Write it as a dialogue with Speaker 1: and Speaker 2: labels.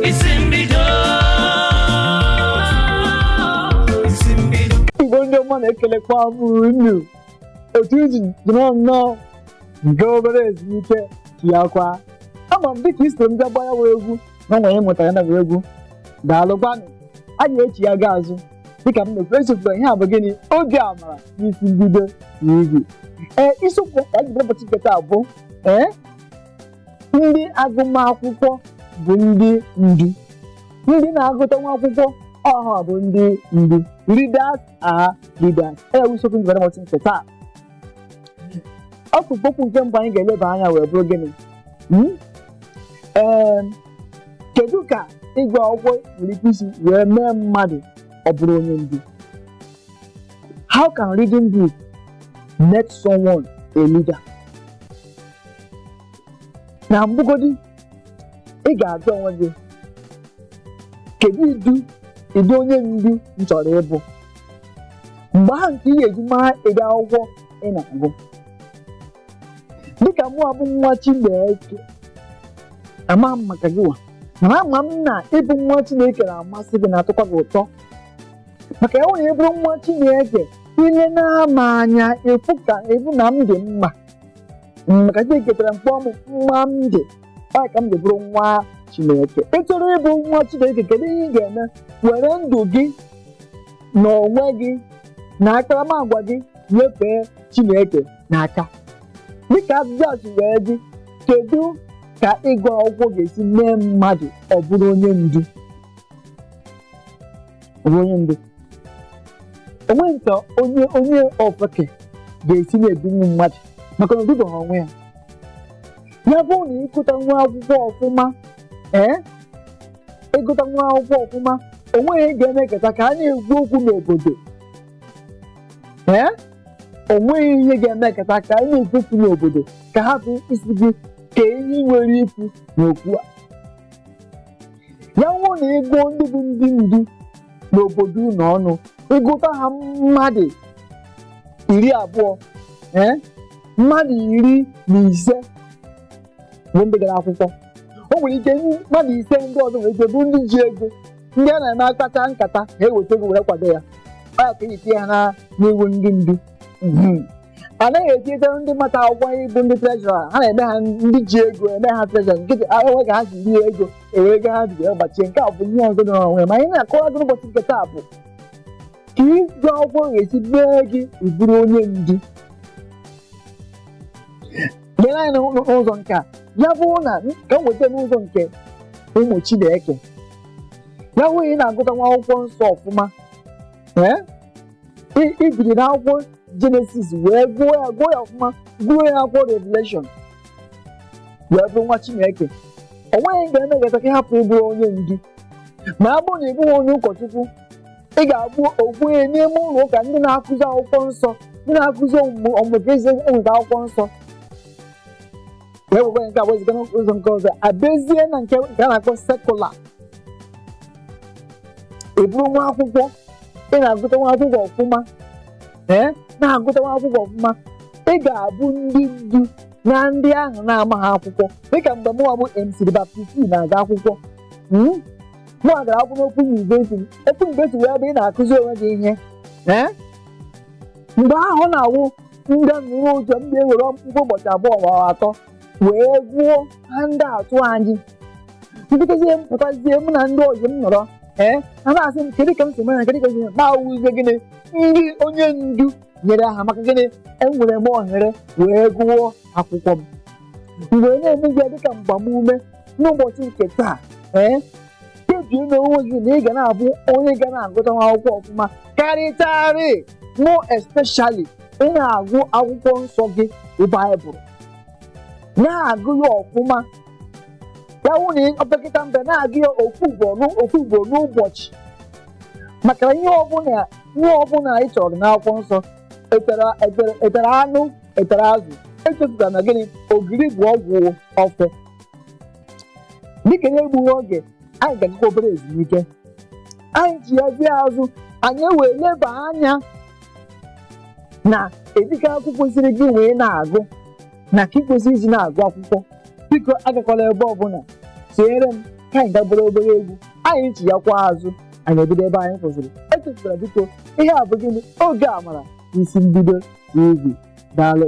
Speaker 1: isi mbido isi mbido igbo ndị ọma na-ekelekwa m unu otu iji nọrọ nnọọ nke obere ezumike ya kwa ama m dịka isoro m bịa gbaa ya wụ egwu na nwere ịmụta ya na wee egwu daalụkwanụ a ga-echi ya gaa azụ dịka m na-ekwu esokwa ihe a bụ gịnị oge amara n'isi mbido na igwe ee isiokwu ka anyị ji bịa ụbọchị nke taa bụ ee ndị agụmakwụkwọ bụ ndị ndu ndị na-agụtanwu akwụkwọ ọ ha bụ ndị ndu readers are leaders ya bụ isiokwu njikọrọ ụbọchị nke taa ọkpụrụkpụ okwu nke mbụ anyị ga-eleba anya wee bụrụ gịnị Hmm? Ee, kedu ka ịgụ akwụkwọ nwere ike isi wee mee mmadụ ọ bụrụ onye ndu how can reading book make someone a leader na mbụgodi ị ga-ajụ onwe gị kedu ụdị ụdị onye ndu m chọrọ ịbụ mgbe ahụ ka ị ga-eji mara ụdị akwụkwọ ị na-agụ dịka mụ abụ nwa Chineke ama m maka gị wa mana ama m na ịbụ nwa Chineke na-amasị gị na-atọkwa gị ụtọ maka ya nwere ịbụrụ nwa Chineke ilena m anya ịfụ ka ịbụ na m dị mma maka chineke ketara m kpụọ m mma m dị ọ ka m ji bụrụ nwa chineke ị chọrọ ịbụ nwa chineke kedu ihe ị ga-eme were ndụ gị na onwe gị na akparamagwa gị nyefee chineke n'aka dịka ajụjụ a si wee dị kedu ka ịgụ akwụkwọ ga-esi mee mmadụ ọ bụrụ onye ndu onwe onye ndu onweghị ka onye onye ofeke ga-esi na-edunwu mmadụ maka na odubeha onwe ya ya bụrụ na ịgụtanwu akwụkwọ ọfụma ee ịgụtanwu akwụkwọ ọfụma onweghị ga-emekọta ka a na-ekwu okwu n'obodo ee onweghị ihe ga-emekọta ka a na-ekwu okwu n'obodo ka a hapụ ịsị gị kee ihe i nwere ikwu n'okwu a ya wụrụ na ịgụọ ndị bụ ndị ndu n'obodo unu ọnụ ịgụta ha mmadụ iri abụọ ee mmadụ iri na ise bụ ndị gara akwụkwọ o nwere ike mmadụ ise ndị ọzọ nwere ike bụ ndị ji ego ndị a na-eme akpacha nkata ha eweta ego were kwado ya ọ ya ka eji tinye ha na- n'iwu ndị ndu Mhm. a naghị etinyeta ndị mata akwụkwọ ịbụ ndị treasurer ha na-eme ha ndị ji ego eme ha treasurer nkịtị a enwe ka ha si rie ego ewere ego ha ji wee gbachie nke a bụ ihe ọzọ nọrọ onwe ya. ma anyị na-akọwa gị n'ụbọchị nke taa bụ ka ịgụ akwụkwọ ga-esi mee gị ịbụrụ onye ndu lee anya n'ụ- n'ụ- n'ụzọ nke a ya bụrụ na ka m weta n'ụzọ nke ụmụ Chineke ya bụrụ na ị na-agụtanwu akwụkwọ nsọ ọfụma ee I- i biri na akwụkwọ jenesis wee gụọ ya gụọ ya ọfụma gụruo ya akwụkwọ revelation wee bụrụ nwa chineke o nweghị ka emekata ka ị hapụ ịbụ onye ndu ma ọ bụrụ na ị bụghị onye ụkọchukwu ị ga-abụ okenye n'ime ụlọ ụka ndị na-akụzi akwụkwọ nsọ ndị na-akụzi ọmụmụ ọmụmụ ka esi enweta akwụkwọ nsọ wee wekwa nke a wezuga n'ụzọ nke ọzọ abịazie na nke nke a na-akpọ secular ị bụrụ nwa akwụkwọ ị na-agụtanwu akwụkwọ ọfụma ee na-agụtanwu akwụkwọ ọfụma ị ga-abụ ndị ndu na ndị ahụ na-amaghị akwụkwọ dịka mgbe mụwa bụ MC the Baptist na-aga akwụkwọ mm? mụwa gara akwụkwọ n'Open University Open University wụ ebe ị na-akụzi onwe gị ihe ee mgbe ahụ ọ na-awụ ndị nụrụ ụjọ ndị ewere mkpụrụ ụbọchị abụọ ma ọ bụ atọ wee gụọ handout anyị mpụtazie mpụtazie mụ na ndị ọyị m nọrọ ee ha na-asị m kedu ka m si mara kedu ka m si mara m awụzie gịnị ndị onye ndu nyere ha maka gịnị enwere m ohere wee gụọ akwụkwọ m m wee na-emezi ya dịka mgbamume n'ụbọchị nke taa ee kpebie n'onwe gị na ị ga na-abụ onye ga na-agụtanwu akwụkwọ ọfụma karịtarị more especially ị na-agụ akwụkwọ nsọ gị bụ baịbụl na-agụ ya ọfụma ya wụ na opekata mpe na-agụ ya ofu ugboro n'ụ- ofu ugboro n'ụbọchị maka na ihe ọbụla ihe ọbụla ị chọrọ n'akwụkwọ nsọ etara etara- etara anụ etara azụ echefukwara na gịnị ogiri bụ ọgwụ ofe dịka na-egbughị oge anyị ga-agakwa obere ezumike anyị chighazie azụ anyị ewee leba anya na ụdị akwụkwọ kwesịrị gị wee na-agụ na ka ị kwesịrị iji na-agụ akwụkwọ biko agakwala ebe ọbụla chere m ka anyị gaa gbara obere egwu anyị chighakwa azụ anyị ebido ebe anyị kwụsịrị echefukwara biko ihe a bụ gịnị oge amara isi mbido tv daalụ